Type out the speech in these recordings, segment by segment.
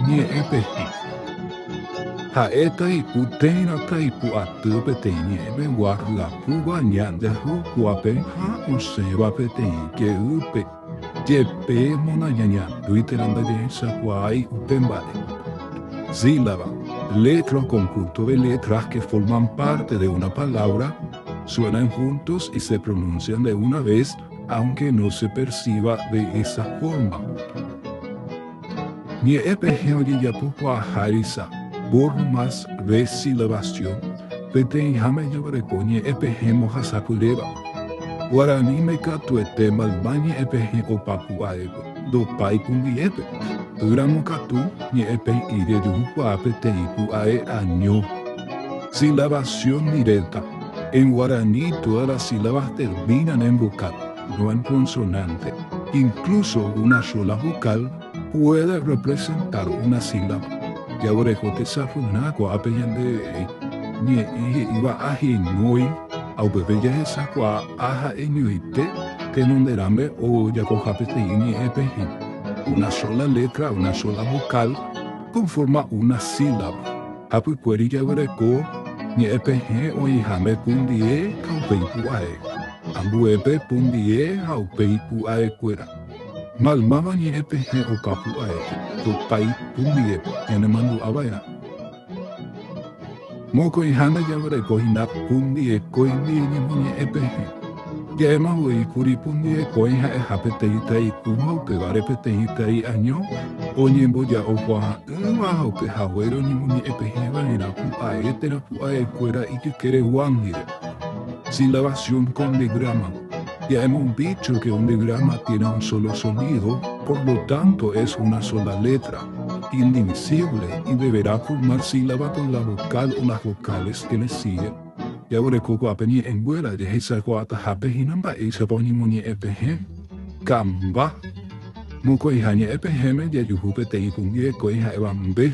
Ñe'ẽ pehi. Ha'e taipu térã taipu aty peteĩ ñe'ẽme guahyapúva ñandeahykuápe ha osẽva peteĩ jeýpe, jepe mona ñañatýi térã ndajehechakuaái upe mba'e. Sílaba, letra o conjunto de letras que forman parte de una palabra suenan juntos y se pronuncian de una vez aunque no se perciba de esa forma. Ñe'ẽ pehẽ ojejapo kuaaha risa, burro más vesi la bastión, peteĩháme jaguereko ñe'ẽ pehẽ mbohasapyréva. Guaraníme katuete mayma ñe'ẽ pehẽ opapu aévo, ndopái kumbiépe, ýramo katu ñe'ẽ pehĩ rejuhukuaa peteĩ pu'ae año. Silabación directa, en guaraní todas las sílabas terminan en vocal. Duan consonante, incluso una sola vocal, puede representar una sílaba. Jaguereho tesapy'arã ko'ápe ñande ñe'ẽ he'íva ahenói ha upépe jahechakuaa a ha'eñoite tenonde rambe ojapoha peteĩ ñe'ẽ pehẽ. Una sola letra, una sola vocal, conforma una sílaba. Apykuéri jaguereko ñe'ẽ pehẽ oĩháme pundie ha upe ipu'ae, ambuépe pundie ha upe ipu'aekuéra. Maymáva ñe'ẽ pehẽ opa pu'ae, tupái pundiepe ñanemandu'a va'erã. Mokõiháme jaguereko hína pundie koimbie ñemoñe'ẽ pehẽ. Ja'éma voi kuri pumbyeko'ỹ ha'eha peteĩ tai kũva upévare peteĩ tai año oñemboja'okuaa'ỹva ha upe haguére oñemoñe'ẽpehẽ va'erã pu'ae térã pu'ae kuéra ijykére guándire. Silabasión kon ndegrama. Ja'éma un bícho ke un ndegrama tiene un solo solído, por lo tánto es una sola létra, indivisíble, y deverá formar sílaba kon la vokál o las vokales ke le síge, Jaguerekokuaa pe ñe'ẽnguéra jehechakuaatahápe hína mba'éichapa oñemoñe'ẽ pehẽ. Ka'mba. Mokõiha ñe'ẽ pehẽme jajuhu peteĩ kũmbi rekói ha'éva mbe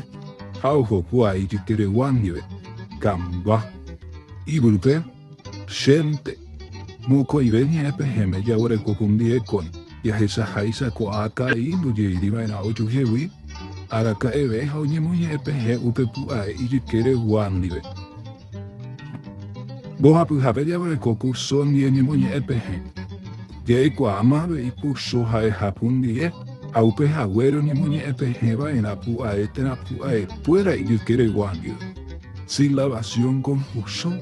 ha ojokuaa ijykeregua ndive. Ka'mba. Yvýpe, chénte. Mokõive ñe'ẽ pehẽme jaguereko kũmbi rekói jahechaháicha ko'ã karai ndojeýri va'erã ojuhegui araka'eve ha oñemoñe'ẽ pehẽ upe pu'ae ijykeregua ndive. Mbohapyhape jaguereko kurso ñeñemoñe'ẽ pehẽ. Jaikuaáma avei kurso ha'ehapu ndive ha upe hague roñemoñe'ẽ pehẽ va'erã pu'ae térã pu'aekuéra ijykeregua ndive. Silabasiõ kon kurso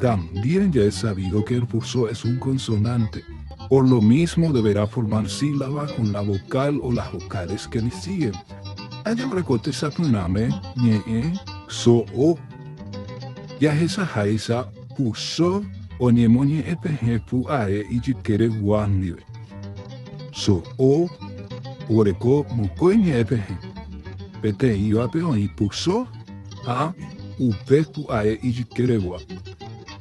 También ya es sabido que el kurso es un konsonante, por lo mismo deberá formar sílaba kon la vokál o las vokales que le siguen. Ha jaguereko tesapyrãme ñe'ẽ so o. Jahechaháicha ku Só oñemoñe'ẽ pehẽ pu'ae ijykére gua ndive. So'o oreko mokõi ñe'ẽ pehẽ, peteĩvape oĩ ku Só ha upe pu'ae ijykére gua.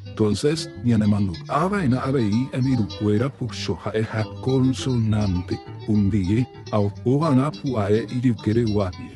Entonces ñanemandu'a va'erã avei hembirukuéra ku Só ha'eha konsonánte, un ndive ha oho va'erã pu'ae ijykére gua ndive.